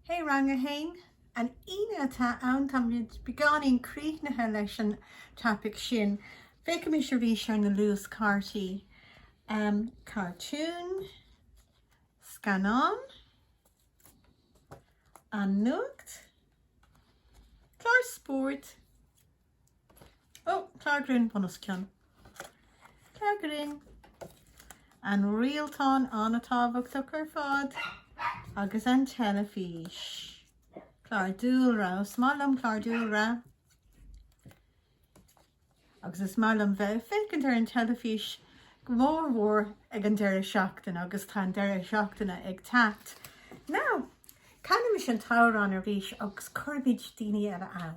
Hey Rang 1, An Aoine atá ann, tá muid beagnach críochnaithe leis an topaic sin. Féachaimis arís ar na luaschártaí. Cartún, scannán, an nuacht, clár spóirt. Ó, clár grinn bunoscionn. Clár grinn. An rialtán an-tábhachtach ar fad agus an teilifís. Clár dúlra, is maith liom clár dúlra. Agus is maith liom bheith ag féachaint ar an teilifís go mór mór ag an deireadh seachtaine agus tá an deireadh seachtaine ag teacht. Now, canaimis an t-amhrán arís agus cuirimid daoine eile ann.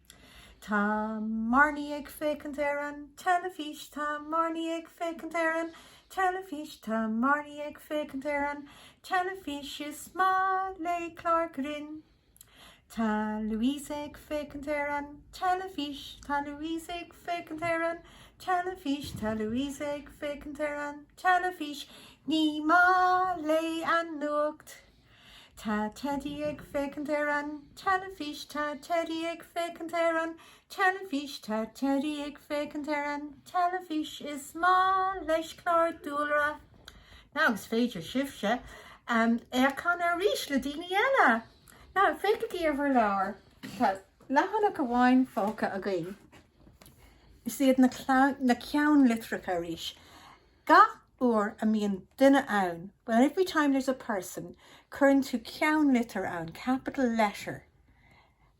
Tá Marnie ag féachaint ar an teilifís. Tá Marnie ag féachaint ar an teilifís. Tá Marnie ag féachaint ar an teilifís. Is maith léi clár grinn. Tá Louise ag féachaint ar an teilifís. Tá Louise ag féachaint ar an teilifís. Tá Louise ag féachaint ar an teilifís. Ní maith léi an nuacht. Tá Teidí ag féachaint ar an teilifís Tá Teidí ag féachaint ar an teilifís Tá Teidí ag féachaint ar an teilifís Is maith leis clár dúlra Now, is féidir libhse é a chanadh arís le daoine eile! Now, féachaigí ar bhur leabhair Tá leathanach amháin fágtha againn Is iad na ceannlitreacha arís. Gach uair a mbíonn duine ann, whenever, every time there's a person, cuireann tú ceannlitir ann, capital letter.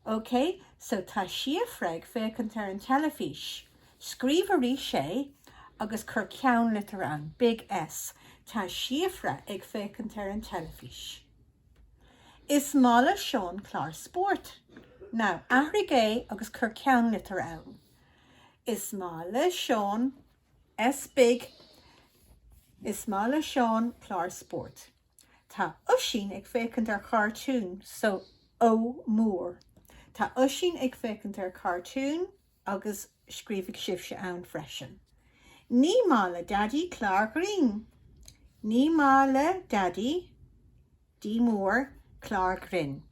OK? So, tá Síofra ag féachaint ar an teilifís. Scríobh arís é agus cuir ceannlitir ann, big S. Tá Síofra ag féachaint ar an teilifís. Is maith le Seán clár spóirt. Now, athraigh é agus cuir ceannlitir ann. Is maith le Seán. S. Big, Is maith le Seán clár spóirt. Tá Oisín ag féachaint ar chartún so O. Mór, Tá Oisín ag féachaint ar chartún agus scríobhaigí sibhse ann freisin. Ní maith le Daidí clár grinn. Ní maith le Daidí, D. Mór, clár grinn.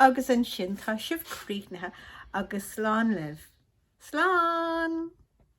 Agus ansin tá sibh críochnaithe agus slán libh. Slán!